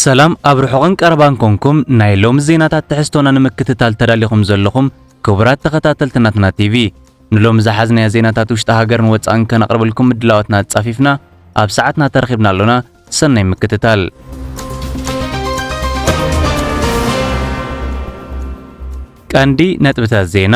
ሰላም ኣብ ርሑቕን ቀረባን ኮንኩም ናይ ሎሚ ዜናታት ትሕዝቶና ንምክትታል ተዳሊኹም ዘለኹም ክቡራት ተኸታተልቲ ናትና ቲቪ ንሎሚ ዝሓዝናዮ ዜናታት ውሽጢ ሃገርን ወጻእን ከነቕርብልኩም ምድላዋትና ኣጻፊፍና ኣብ ሰዓትና ተረኺብና ኣሎና ሰናይ ምክትታል ቀንዲ ነጥብታት ዜና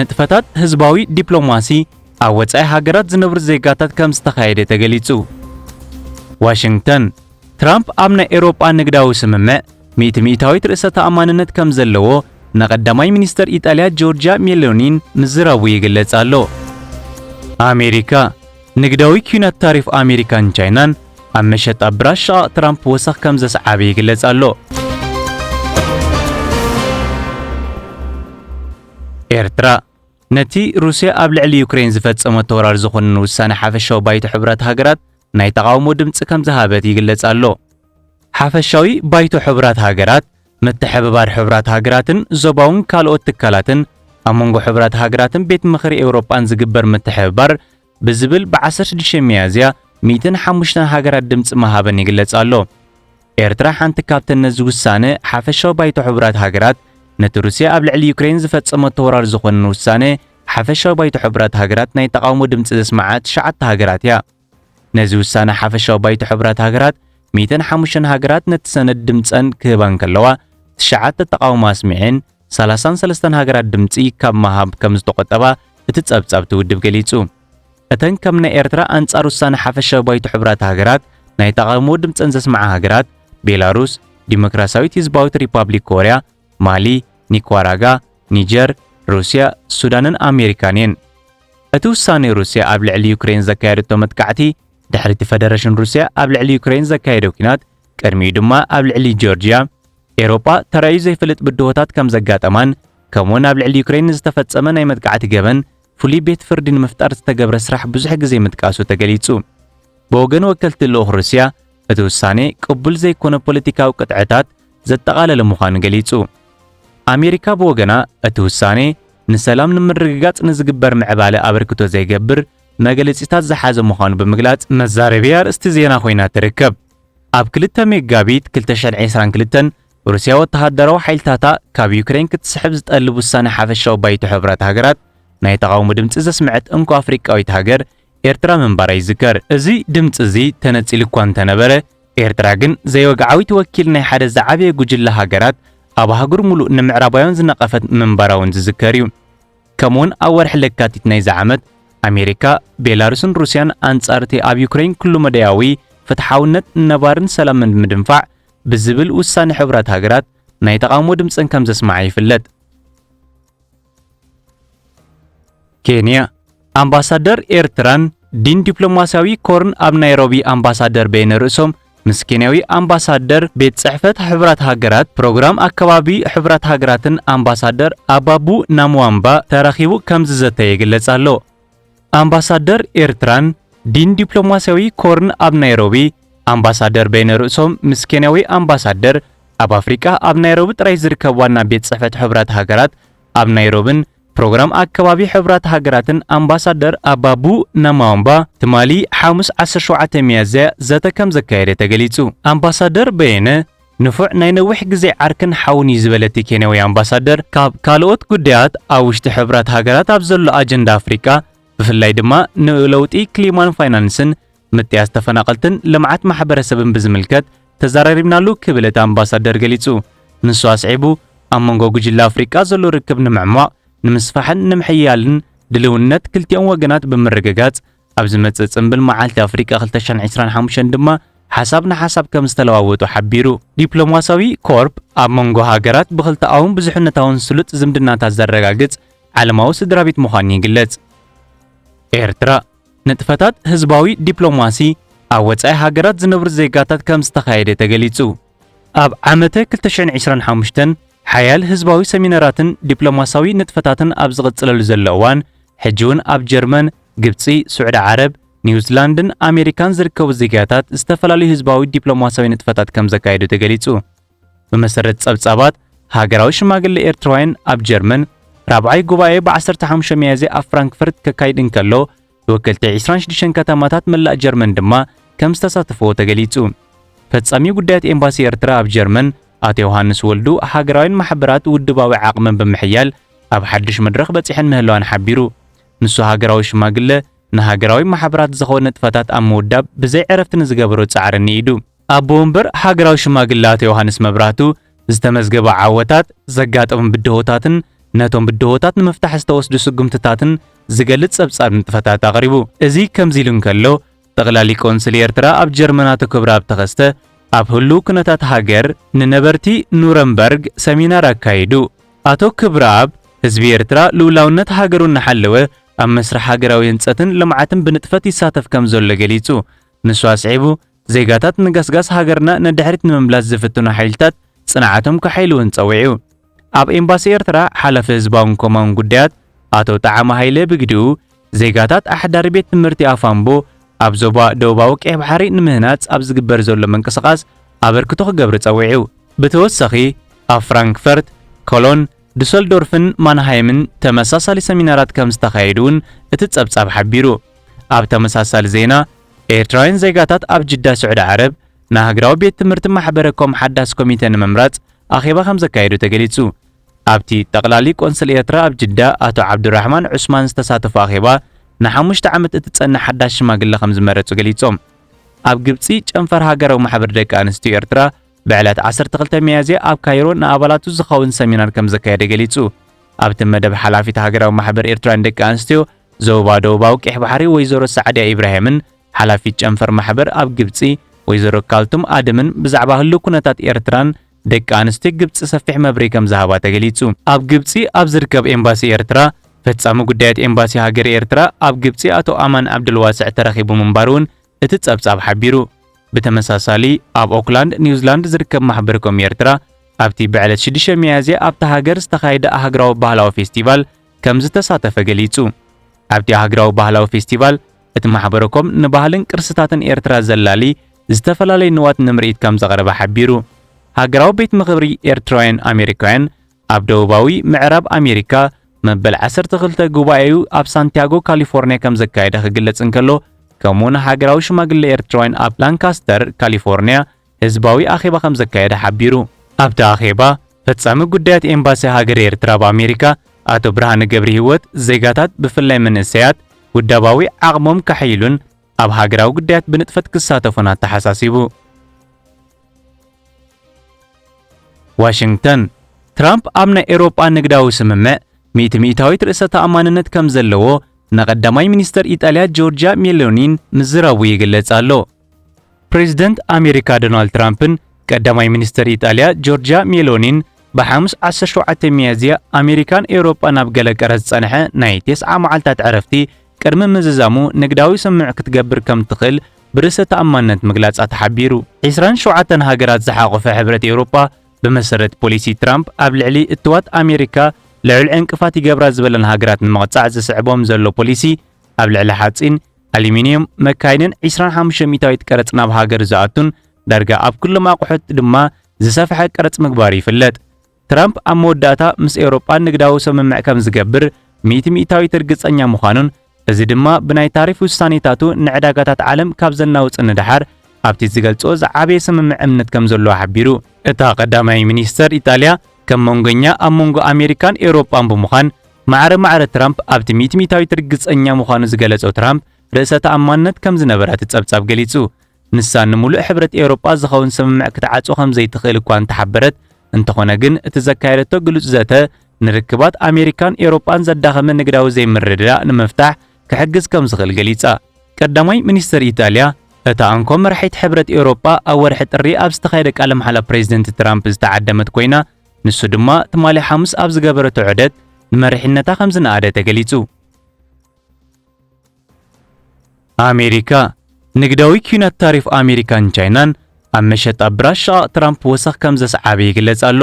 ንጥፈታት ህዝባዊ ዲፕሎማሲ ኣብ ወጻኢ ሃገራት ዝነብሩ ዜጋታት ከም ዝተኻየደ ተገሊጹ። ዋሽንግተን፣ ትራምፕ ኣብ ናይ ኤውሮጳ ንግዳዊ ስምምዕ ሚእቲ ሚእታዊት ርእሰ ተኣማንነት ከም ዘለዎ ንቀዳማይ ሚኒስተር ኢጣልያ ጆርጅያ ሜሎኒን ምዝራቡ ይግለጽ ኣሎ። ኣሜሪካ፣ ንግዳዊ ኲናት ታሪፍ ኣሜሪካን ቻይናን ኣብ መሸጣ ብራሽ ሸቓቕ ትራምፕ ወሰኽ ከም ዘስዓበ ይግለጽ ኣሎ። ኤርትራ፣ ነቲ ሩስያ ኣብ ልዕሊ ዩክሬን ዝፈጸመቶ ወራር ዝኹንን ውሳነ ሓፈሻዊ ባይቶ ሕቡራት ሃገራት ናይ ተቓውሞ ድምጺ ከም ዝሃበት ይግለጽ ኣሎ። ሓፈሻዊ ባይቶ ሕቡራት ሃገራት ምትሕብባር ሕቡራት ሃገራትን ዞባውን ካልኦት ትካላትን ኣብ መንጎ ሕቡራት ሃገራትን ቤት ምኽሪ ኤውሮጳን ዝግበር ምትሕብባር ብዝብል ብ16 ሚያዝያ 105 ሃገራት ድምፂ መሃበን ይግለጽ ኣሎ። ኤርትራ ሓንቲ ካብተን ነዚ ውሳነ ሓፈሻዊ ባይቶ ሕቡራት ሃገራት ነቲ ሩስያ ኣብ ልዕሊ ዩክሬን ዝፈጸመቶ ወራር ዝኾንን ውሳነ ሓፈሻዊ ባይቶ ሕቡራት ሃገራት ናይ ተቓውሞ ድምፂ ዘስመዓ ትሽዓተ ሃገራት እያ። ነዚ ውሳነ ሓፈሻዊ ባይቶ ሕቡራት ሃገራት ሚእትን ሓሙሽተን ሃገራት ነቲ ሰነድ ድምጸን ክህባ እንከለዋ ትሽዓተ ተቓውሞ ኣስሚዔን ሰላሳን ሰለስተን ሃገራት ድምጺ ካብ ምሃብ ከም ዝተቖጠባ እቲ ጸብጻብ እቲ ውድብ ገሊጹ። እተን ከም ናይ ኤርትራ ኣንጻር ውሳነ ሓፈሻዊ ባይቶ ሕቡራት ሃገራት ናይ ተቓውሞ ድምጸን ዘስምዓ ሃገራት ቤላሩስ፣ ዲሞክራስያዊት ህዝባዊት ሪፓብሊክ ኮርያ፣ ማሊ፣ ኒኳራጋ፣ ኒጀር፣ ሩስያ፣ ሱዳንን ኣሜሪካን እየን። እቲ ውሳኔ ሩስያ ኣብ ልዕሊ ዩክሬን ዘካየደቶ መጥቃዕቲ ድሕሪቲ ፈደረሽን ሩስያ ኣብ ልዕሊ ዩክሬን ዘካየዶ ኲናት ቅድሚኡ ድማ ኣብ ልዕሊ ጆርጅያ ኤሮጳ ተራእዩ ዘይፈልጥ ብድሆታት ከም ዘጋጠማን ከምኡውን ኣብ ልዕሊ ዩክሬን ንዝተፈጸመ ናይ መጥቃዕቲ ገበን ፍሉይ ቤት ፍርዲ ንምፍጣር ዝተገብረ ስራሕ ብዙሕ ግዜ ምጥቃሱ ተገሊጹ። ብወገን ወከልቲ ልኡኽ ሩስያ እቲ ውሳኔ ቅቡል ዘይኮነ ፖለቲካዊ ቅጥዕታት ዘጠቓለለ ምዃኑ ገሊጹ። ኣሜሪካ ብወገና እቲ ውሳኔ ንሰላም ንምርግጋጽ ንዝግበር ምዕባለ ኣበርክቶ ዘይገብር መግለጺታት ዝሓዘ ምዃኑ ብምግላጽ፣ መዛረቢ ኣርእስቲ ዜና ኮይና ትርከብ። ኣብ ክልተ ሜጋቢት ክልተ ሽሕን ዒስራን ክልተን፣ ሩስያ ወተሃደራዊ ሓይልታታ ካብ ዩክረይን ክትስሕብ ዝጠልብ ውሳኔ ሓፈሻዊ ባይቶ ሕቡራት ሃገራት ናይ ተቓውሞ ድምጺ ዘስመዐት እንኮ ኣፍሪቃዊት ሃገር ኤርትራ ምንባራ ይዝከር። እዚ ድምጺ እዚ ተነጺሉ እኳ እንተ ነበረ፣ ኤርትራ ግን ዘይወግዓዊት ወኪል ናይ ሓደ ዝዓበየ ጉጅለ ሃገራት ኣብ ኣህጉር ምሉእ ንምዕራባውያን ዝነቐፈት ምንባራ እውን ዝዝከር እዩ። ከምኡውን ኣብ ወርሒ ለካቲት ናይዚ ዓመት ኣሜሪካ፣ ቤላሩስን ሩስያን ኣንጻር እቲ ኣብ ዩክረይን ኩሉ-መዳያዊ ፍትሓውነት፣ ነባሪን ሰላምን ብምድንፋዕ ብዝብል ውሳነ ሕቡራት ሃገራት ናይ ተቓውሞ ድምጸን ከም ዘስምዓ ይፍለጥ። ኬንያ ኣምባሳደር ኤርትራን ዲን ዲፕሎማስያዊ ኮርን ኣብ ናይሮቢ ኣምባሳደር በየነ ርእሶም ምስ ኬንያዊ ኣምባሳደር ቤት ጽሕፈት ሕብራት ሃገራት ፕሮግራም ኣከባቢ ሕብራት ሃገራትን ኣምባሳደር ኣባቡ ናምዋምባ ተራኺቡ ከም ዝዘተየ ይግለጽ ኣሎ። ኣምባሳደር ኤርትራን ዲን ዲፕሎማስያዊ ኮርን ኣብ ናይሮቢ ኣምባሳደር በይነ ርእሶም ምስ ኬንያዊ ኣምባሳደር ኣብ ኣፍሪቃ ኣብ ናይሮቢ ጥራይ ዝርከብ ዋና ቤት ጽሕፈት ሕብራት ሃገራት ኣብ ናይሮብን ፕሮግራም ኣከባቢ ሕብራት ሃገራትን ኣምባሳደር ኣባቡ ናማዋምባ ትማሊ ሓሙስ 17 ሚያዝያ ዘተ ከም ዘካየደ ተገሊጹ። ኣምባሳደር በየነ ንፉዕ ናይ ነዊሕ ግዜ ዓርክን ሓውን እዩ ዝበለ እቲ ኬንያዊ ኣምባሳደር፣ ካብ ካልኦት ጉዳያት ኣብ ውሽጢ ሕቡራት ሃገራት ኣብ ዘሎ ኣጀንዳ ኣፍሪቃ ብፍላይ ድማ ንለውጢ ክሊማን ፋይናንስን፣ ምጥያስ ተፈናቐልትን ልምዓት ማሕበረሰብን ብዝምልከት ተዘራሪብናሉ ክብል እቲ ኣምባሳደር ገሊጹ። ንሱ ኣስዒቡ ኣብ መንጎ ጉጅለ ኣፍሪቃ ዘሎ ርክብ ንምዕሟቕ፣ ንምስፋሕን ንምሕያልን ድልውነት ክልቲኦም ወገናት ብምርግጋጽ፣ ኣብ ዝመጽእ ጽምብል መዓልቲ ኣፍሪቃ 2025 ድማ ሓሳብ ንሓሳብ ከም ዝተለዋወጡ ሓቢሩ። ዲፕሎማሲያዊ ኮርፕ ኣብ መንጎ ሃገራት ብኽልተኣውን ብዙሕነታውን ስሉጥ ዝምድናታት ዘረጋግጽ ዓለማዊ ስድራ ቤት ምዃኑ ይግለጽ። ኤርትራ ንጥፈታት ህዝባዊ ዲፕሎማሲ ኣብ ወጻኢ ሃገራት ዝነብሩ ዜጋታት ከም ዝተኻየደ ተገሊጹ። ኣብ ዓመተ 2025 ሓያል ህዝባዊ ሰሚናራትን ዲፕሎማሲያዊ ንጥፈታትን ኣብ ዝቕጽለሉ ዘሎ እዋን ሕጂ እውን ኣብ ጀርመን ግብጺ፣ ሱዕዲ ዓረብ፣ ኒውዝላንድን ኣሜሪካን ዝርከቡ ዜጋታት ዝተፈላለዩ ህዝባዊ ዲፕሎማሲያዊ ንጥፈታት ከም ዘካየዱ ተገሊጹ። ብመሰረት ጸብጻባት፣ ሃገራዊ ሽማግሌ ኤርትራውያን ኣብ ጀርመን ራብዓይ ጉባኤ ብ15 ሚያዝያ ኣብ ፍራንክፈርት ከካይድ እንከሎ ተወከልቲ 26 ከተማታት መላእ ጀርመን ድማ ከም ዝተሳተፍዎ ተገሊጹ። ፈጻሚ ጉዳያት ኤምባሲ ኤርትራ ኣብ ጀርመን ኣቶ ዮሃንስ ወልዱ ሃገራውያን ማሕበራት ውድባዊ ዓቕመን ብምሕያል ኣብ ሓድሽ መድረኽ በጺሐን ምህላወን ሓቢሩ። ንሱ ሃገራዊ ሽማግለ ንሃገራዊ ማሕበራት ዝኸውን ንጥፈታት ኣብ ምውዳብ ብዘይ ዕረፍቲ ንዝገበሮ ጻዕሪ ንኢዱ ኣቦ ወንበር ሃገራዊ ሽማግለ ኣቶ ዮሃንስ መብራህቱ ዝተመዝገቡ ዓወታት፣ ዘጋጠሙ ብድሆታትን ነቶም ብድሆታት ንምፍታሕ ዝተወስዱ ስጉምትታትን ዝገልጽ ጸብጻብ ንጥፈታት ኣቕሪቡ። እዚ ከምዚ ኢሉ እንከሎ፣ ጠቕላሊ ቆንስል ኤርትራ ኣብ ጀርመን ኣቶ ክብረኣብ ተኸስተ ኣብ ህሉው ኩነታት ሃገር ንነበርቲ ኑረምበርግ ሰሚናር ኣካይዱ። ኣቶ ክብረኣብ፣ ህዝቢ ኤርትራ ልኡላውነት ሃገሩ እናሓለወ ኣብ መስርሕ ሃገራዊ ህንጸትን ልምዓትን ብንጥፈት ይሳተፍ ከም ዘሎ ገሊጹ። ንሱ ኣስዒቡ፣ ዜጋታት ንገስጋስ ሃገርና ንድሕሪት ንምምላስ ዝፍትኑ ሓይልታት ጽንዓቶም ከሐይሉ'ውን ጸዊዑ። ኣብ ኤምባሲ ኤርትራ ሓላፊ ህዝባውን ኮማውን ጉዳያት ኣቶ ጠዓመ ሃይለ ብግዲኡ፣ ዜጋታት ኣሕዳሪ ቤት ትምህርቲ ኣፋምቦ ኣብ ዞባ ደቡባዊ ቀይሕ ባሕሪ ንምህናጽ ኣብ ዝግበር ዘሎ ምንቅስቓስ ኣበርክቶ ክገብሪ ጸዊዑ። ብተወሳኺ ኣብ ፍራንክፈርት፣ ኮሎን፣ ዱሰልዶርፍን ማንሃይምን ተመሳሳሊ ሰሚናራት ከም ዝተኻየዱ'ውን እቲ ጸብጻብ ሓቢሩ። ኣብ ተመሳሳሊ ዜና፣ ኤርትራውያን ዜጋታት ኣብ ጅዳ ስዑዲ ዓረብ፣ ንሃገራዊ ቤት ትምህርቲ ማሕበረ ኮም ሓዳስ ኮሚተ ንምምራጽ ኣኼባ ከም ዘካየዱ ተገሊጹ። ኣብቲ ጠቕላሊ ቆንስል ኤርትራ ኣብ ጅዳ ኣቶ ዓብዱራሕማን ዑስማን ዝተሳተፉ ኣኼባ ንሓሙሽተ ዓመት እትጸንሕ ሓዳስ ሽማግለ ከም ዝመረጹ ገሊጾም። ኣብ ግብጺ ጨንፈር ሃገራዊ ማሕበር ደቂ ኣንስትዮ ኤርትራ ብዕለት 12 ሚያዝያ ኣብ ካይሮ ንኣባላቱ ዝኸውን ሰሚናር ከም ዘካየደ ገሊጹ። ኣብቲ መደብ ሓላፊት ሃገራዊ ማሕበር ኤርትራን ደቂ ኣንስትዮ ዞባ ደቡባዊ ቀይሕ ባሕሪ ወይዘሮ ሳዕድያ ኢብራሂምን ሓላፊት ጨንፈር ማሕበር ኣብ ግብጺ ወይዘሮ ካልቱም ኣደምን ብዛዕባ ህሉው ኩነታት ኤርትራን ደቂ ኣንስትዮ ግብጺ ሰፊሕ መብርሂ ከም ዝሃባ ተገሊጹ። ኣብ ግብጺ ኣብ ዝርከብ ኤምባሲ ኤርትራ ፈጻሚ ጉዳያት ኤምባሲ ሃገረ ኤርትራ ኣብ ግብጺ ኣቶ ኣማን ዓብደልዋስዕ ተረኺቡ ምንባሩ'ውን እቲ ጸብጻብ ሓቢሩ። ብተመሳሳሊ ኣብ ኦክላንድ ኒውዚላንድ ዝርከብ ማሕበር ኮም ኤርትራ ኣብቲ ብዕለት 6 ሚያዝያ ኣብታ ሃገር ዝተኻየደ ኣህግራዊ ባህላዊ ፌስቲቫል ከም ዝተሳተፈ ገሊጹ። ኣብቲ ኣህግራዊ ባህላዊ ፌስቲቫል እቲ ማሕበረኮም ንባህልን ቅርስታትን ኤርትራ ዘላሊ ዝተፈላለዩ ንዋት ንምርኢት ከምዘቕረበ ሓቢሩ። ሃገራዊ ቤት ምኽብሪ ኤርትራውያን ኣሜሪካውያን ኣብ ደቡባዊ ምዕራብ ኣሜሪካ መበል ዓሰርተ ክልተ ጉባኤኡ ኣብ ሳንቲያጎ ካሊፎርኒያ ከምዘካየደ ክግለጽ እንከሎ ከምኡውን ሃገራዊ ሽማግለ ኤርትራውያን ኣብ ላንካስተር ካሊፎርኒያ ህዝባዊ ኣኼባ ከም ዘካየደ ሓቢሩ። ኣብቲ ኣኼባ፣ ፈጻሚ ጉዳያት ኤምባሲ ሃገረ ኤርትራ ኣብ ኣሜሪካ ኣቶ ብርሃነ ገብሪሂወት፣ ዜጋታት ብፍላይ መንእሰያት ውዳባዊ ዓቕሞም ከሐይሉን ኣብ ሃገራዊ ጉዳያት ብንጥፈት ክሳተፉን ኣተሓሳሲቡ። ዋሽንግተን፣ ትራምፕ ኣብ ናይ ኤውሮጳ ንግዳዊ ስምምዕ ሚእቲ ሚእታዊት ርእሰ ተኣማንነት ከም ዘለዎ ንቀዳማይ ሚኒስተር ኢጣልያ ጆርጅያ ሜሎኒን ምዝራቡ ይግለጽ ኣሎ። ፕሬዝደንት ኣሜሪካ ዶናልድ ትራምፕን ቀዳማይ ሚኒስትር ኢጣልያ ጆርጅያ ሜሎኒን ብሓሙስ 17 ሚያዝያ ኣሜሪካን ኤውሮጳን ኣብ ገለ ቀረ ዝጸንሐ ናይ ቴስዓ መዓልታት ዕረፍቲ ቅድሚ ምዝዛሙ ንግዳዊ ስምምዕ ክትገብር ከም ትኽእል ብርእሰ ተኣማንነት ምግላጻ ተሓቢሩ። 27 ሃገራት ዝሓቖፈ ሕብረት ኤውሮጳ ብመሰረት ፖሊሲ ትራምፕ ኣብ ልዕሊ እትዋት ኣሜሪካ ልዑል ዕንቅፋት ይገብራ ዝበለን ሃገራት ንምቕጻዕ ዝስዕቦም ዘሎ ፖሊሲ ኣብ ልዕሊ ሓጺን ኣሉሚንየም መካይንን 25 ሚታዊት ቀረጽ ናብ ሃገር ዝኣቱን ዳርጋ ኣብ ኩሎም ኣቑሑት ድማ ዝሰፍሐ ቀረጽ ምግባሩ ይፍለጥ። ትራምፕ ኣብ መወዳእታ ምስ ኤውሮጳ ንግዳዊ ስምምዕ ከም ዝገብር ሚእቲ ሚእታዊት ርግጸኛ ምዃኑን እዚ ድማ ብናይ ታሪፍ ውሳኔታቱ ንዕዳጋታት ዓለም ካብ ዘናውጽ ንደሓር ኣብቲ ዝገልጾ ዝዓበየ ስምምዕ እምነት ከም ዘለዎ ሓቢሩ። እታ ቀዳማይ ሚኒስተር ኢጣልያ ከም መንጎኛ ኣብ መንጎ ኣሜሪካን ኤውሮጳን ብምዃን ማዕረ ማዕረ ትራምፕ ኣብቲ ሚትሚታዊት ርግጸኛ ምዃኑ ዝገለጾ ትራምፕ ርእሰ ተኣማንነት ከም ዝነበራ እቲ ጸብጻብ ገሊጹ። ንሳ ንምሉእ ሕብረት ኤውሮጳ ዝኸውን ስምምዕ ክትዓጹ ከም ዘይትኽእል እኳ እንተሓበረት፣ እንተኾነ ግን እቲ ዘካየደቶ ግሉጽ ዘተ ንርክባት ኣሜሪካን ኤውሮጳን ዘዳኸመ ንግዳዊ ዘይምርድዳእ ንምፍታሕ ክሕግዝ ከም ዝኽእል ገሊጻ። ቀዳማይ ሚኒስተር ኢጣልያ እታ እንኮ መራሒት ሕብረት ኤውሮጳ ኣብ ወርሒ ጥሪ ኣብ ዝተኻየደ ቃለ መሓላ ፕሬዝደንት ትራምፕ ዝተዓደመት ኮይና ንሱ ድማ ትማሊ ሓሙስ ኣብ ዝገበረቶ ዑደት ንመሪሕነታ ከም ዝነኣደ ተገሊጹ። ኣሜሪካ ንግዳዊ ኲናት ታሪፍ ኣሜሪካን ቻይናን ኣብ መሸጣ ብራሽ ሸቓቕ ትራምፕ ወሰኽ ከም ዘስዓበ ይግለጽ ኣሎ።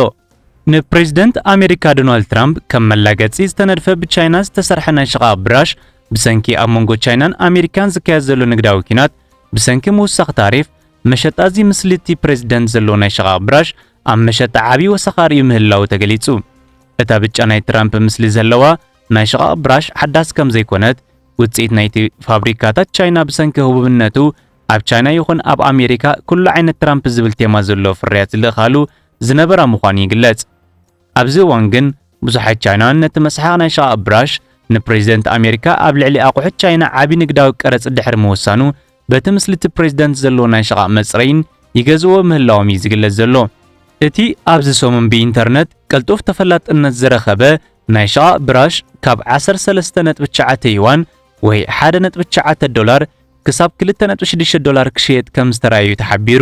ንፕሬዚደንት ኣሜሪካ ዶናልድ ትራምፕ ከም መላገጺ ዝተነድፈ ብቻይና ዝተሰርሐ ናይ ሸቓቕ ብራሽ ብሰንኪ ኣብ መንጎ ቻይናን ኣሜሪካን ዝካየድ ዘሎ ንግዳዊ ኲናት ብሰንኪ ምውሳኽ ታሪፍ መሸጣ እዚ ምስሊቲ ፕሬዚደንት ዘለዎ ናይ ሸቓቕ ብራሽ ኣብ መሸጣ ዓብዪ ወሰኻ ርእዩ ምህላዉ ተገሊጹ። እታ ብጫ ናይ ትራምፕ ምስሊ ዘለዋ ናይ ሽቓቕ ብራሽ ሓዳስ ከም ዘይኮነት፣ ውጽኢት ናይቲ ፋብሪካታት ቻይና ብሰንኪ ህቡብነቱ ኣብ ቻይና ይኹን ኣብ ኣሜሪካ ኩሉ ዓይነት ትራምፕ ዝብል ቴማ ዘለዎ ፍርያት ዝልእካሉ ዝነበራ ምዃኑ ይግለጽ። ኣብዚ እዋን ግን ብዙሓት ቻይናውያን ነቲ መስሓቕ ናይ ሽቓቕ ብራሽ ንፕሬዚደንት ኣሜሪካ ኣብ ልዕሊ ኣቑሑት ቻይና ዓቢ ንግዳዊ ቀረጽ ድሕሪ ምውሳኑ በቲ ምስልቲ ፕሬዝደንት ዘሎ ናይ ሸቓቕ መጽረይን ይገዝእዎ ምህላዎም እዩ ዝግለጽ ዘሎ። እቲ ኣብዚ ሰሙን ብኢንተርነት ቅልጡፍ ተፈላጥነት ዝረኸበ ናይ ሸቓቕ ብራሽ ካብ 13.9 ዩዋን ወይ 1.9 ዶላር ክሳብ 2.6 ዶላር ክሽየጥ ከም ዝተራእዩ ተሓቢሩ።